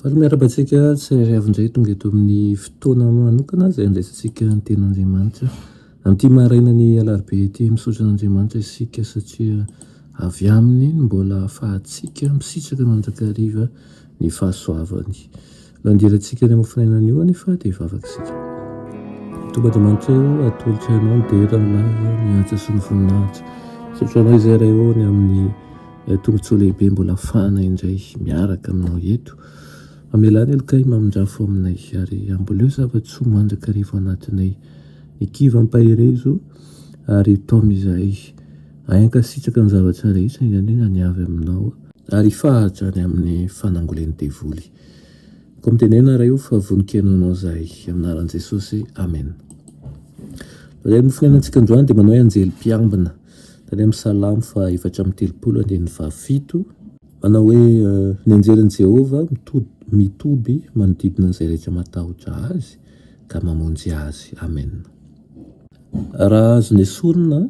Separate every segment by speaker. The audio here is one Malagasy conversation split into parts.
Speaker 1: Faly miarahaba antsika tsirairay avy indray tonga eto amin'ny fotoana manokana izay andraisantsika ny ten'Andriamanitra. Amin'ity marainan'ny alarobia ity misaotra an'Andriamanitra isika satria avy aminy no mbola ahafahantsika misitraka mandrakariva ny fahasoavany. Nandirantsika ny mofinaina anio anefa dia hivavaka isika. Tompo Andriamanitra eo atolotro anao ny dera ny lahiny ny antsa sy ny voninahitra. Misaotra anao izay iray eo ny amin'ny Ilay Tombontsoa Lehibe mbola hafahana indray miaraka aminao eto. Amelà ny heloka I mamindrafo aminay, ary amboleo zava-tsoa mandrakariva ao anatinay. Ny kiva ampaherezo, ary taomy izahay. Ahay hankasitraka ny zavatra rehetra, indrindra ny avy aminao. Ary hifaha hatrany amin'ny fanangolen'ny devoly. Koa mitenena, Ray o, fa vonon-kena Anao izahay. Amin'ny anaran'i Jesosy, amena. Ilay Mofo niainantsika androany dia manao hoe anjely mpiambina. Tany amin'ny Salamo faha efatra amby telopolo andininy faha fito. Manao hoe, Ny anjelin'i Jehovah mitoby manodidina an'izay rehetra matahotra azy, ka mamonjy azy. Amena. Raha azo nesorina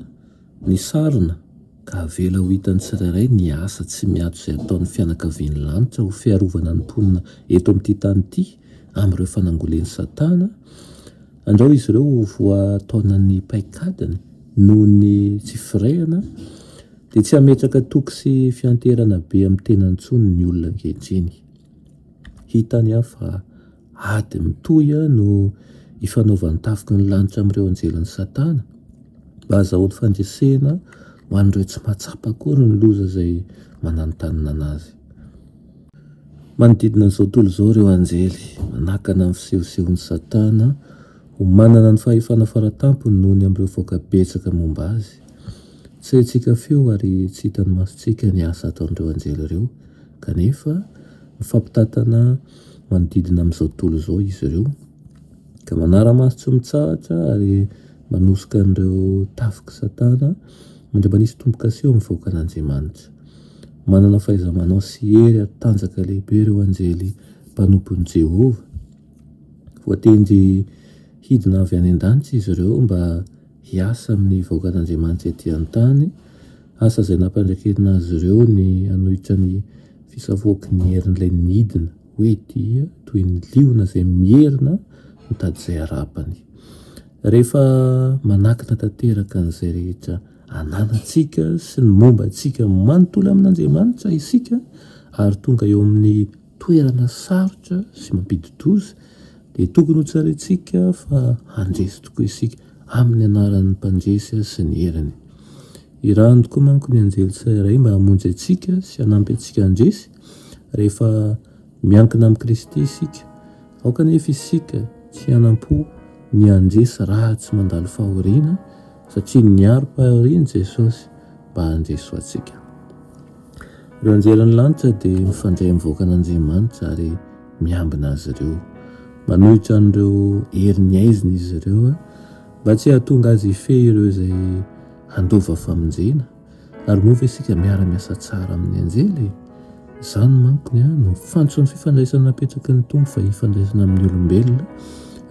Speaker 1: ny sarona, ka avela ho hitan'ny tsirairay ny asa tsy miato izay ataon'ny fianakavian'ny lanitra ho fiarovana ny mponina eto amin'ity tany ity, Amin'ireo fanangolen'i Satana, andrao izy ireo ho voataonan'ny paikadiny noho ny tsy firehana, dia tsy hametraka toky sy fianteherana be amin'ny tenany intsony ny olona ankehitriny. Hitany aho fa ady mitohy no ifanaovan'ny tafiky ny lanitra amin'ireo anjelin'i Satana, mba hahazahoany fandresena ho an'ireo tsy mahatsapa akory ny loza izay mananontanona anazy. Manodidina an'izao tontolo izao ireo anjely, manakana ny fisehosehon'i Satana ho manana ny fahefana faratampony noho ny amin'ireo vahoaka betsaka momba azy. Tsy haintsika feo ary tsy hitan'ny masontsika ny asa ataon'ireo anjely ireo, kanefa mifampitantana manodidina amin'izao tontolo izao izy ireo, ka manara-maso tsy mitsahatra ary manosoka an'ireo tafik'i Satana mandra-manisy tombo-kase eo amin'ny vahoakan'Andriamanitra. Manana fahaiza-manao sy hery ary tanjaka lehibe ireo anjely mpanompon'i Jehovah. Voatendry hidina avy any an-danitra izy ireo mba hiasa amin'ny vahoakan'Andriamanitra etỳ an-tany, asa izay nampandraiketina azy ireo ny hanohitra ny fisafoaky ny herin'ilay nidina, hoe dia toy ny liona izay mierona mitady izay harapany. Rehefa manakina tanteraka an'izay rehetra, Anarantsika sy ny momba antsika manontolo amin'Andriamanitra isika ary tonga eo amin'ny toerana sarotra sy mampidi-doza dia tokony hotsarintsika fa handresy tokoa isika amin'ny anaran'ny Mpandresy sy ny heriny. Irahan'ny tokoa manko ny anjely tsirairay mba hamonjy antsika sy hanampy antsika handresy rehefa miankina amin'i Kristy isika. Aoka anefa isika tsy hanam-po ny handresy raha tsy mandalo fahoriana, Satria niaro mpahariany Jesosy mba handeso antsika. Ireo anjely any lanitra dia mifandray amin'ny vahoakan'Andriamanitra ary miambina azy ireo. Manohitra an'ireo herin'ny haizina izy ireo mba tsy hahatonga azy hifehy ireo izay handova famonjena. Ary moa ve isika miara-miasa tsara amin'ny anjely e? Izany manko ny no fantson'ny fifandraisana napetraky ny Tompo fa hifandraisana amin'ny olombelona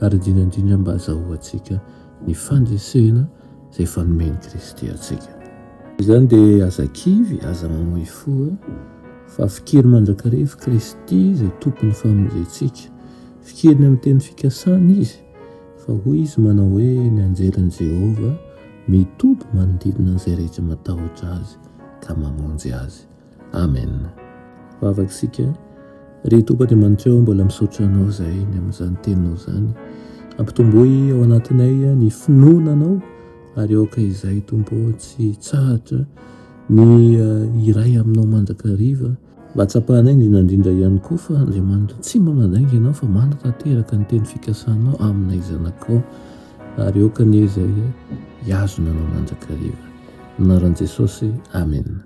Speaker 1: ary indrindra indrindra mba hazahoantsika ny fandresena izay efa nomen'i Kristy antsika. Noho izany dia aza kivy, aza mamoy fo, fa fikiriny mandrakariva i Kristy izay Tompon'ny famonjentsika. Fikiriny amin'ny teny fikasana izy, fa hoy izy manao hoe, Ny anjelin'i Jehovah mitoby manodidina an'izay rehetra matahotra azy ka mamonjy azy. Amen vavak'sika Ry Tompo Andriamanitra o mbola misaotra Anao zahay ny amin'izany teninao zany ampitomboy ao anatinay ny finoana Anao ary aoka izahay Tompo tsy hitsahatra ny hiray aminao mandrakariva mba hatsapanay indrindra indrindra ihany koa fa Andriamanitra tsy mba mandainga Ianao fa manatanteraka ny teny fikasanao aminay zanakao ary aoka anie izahay hiazona Anao mandrakariva ny anaran'i Jesosy Amen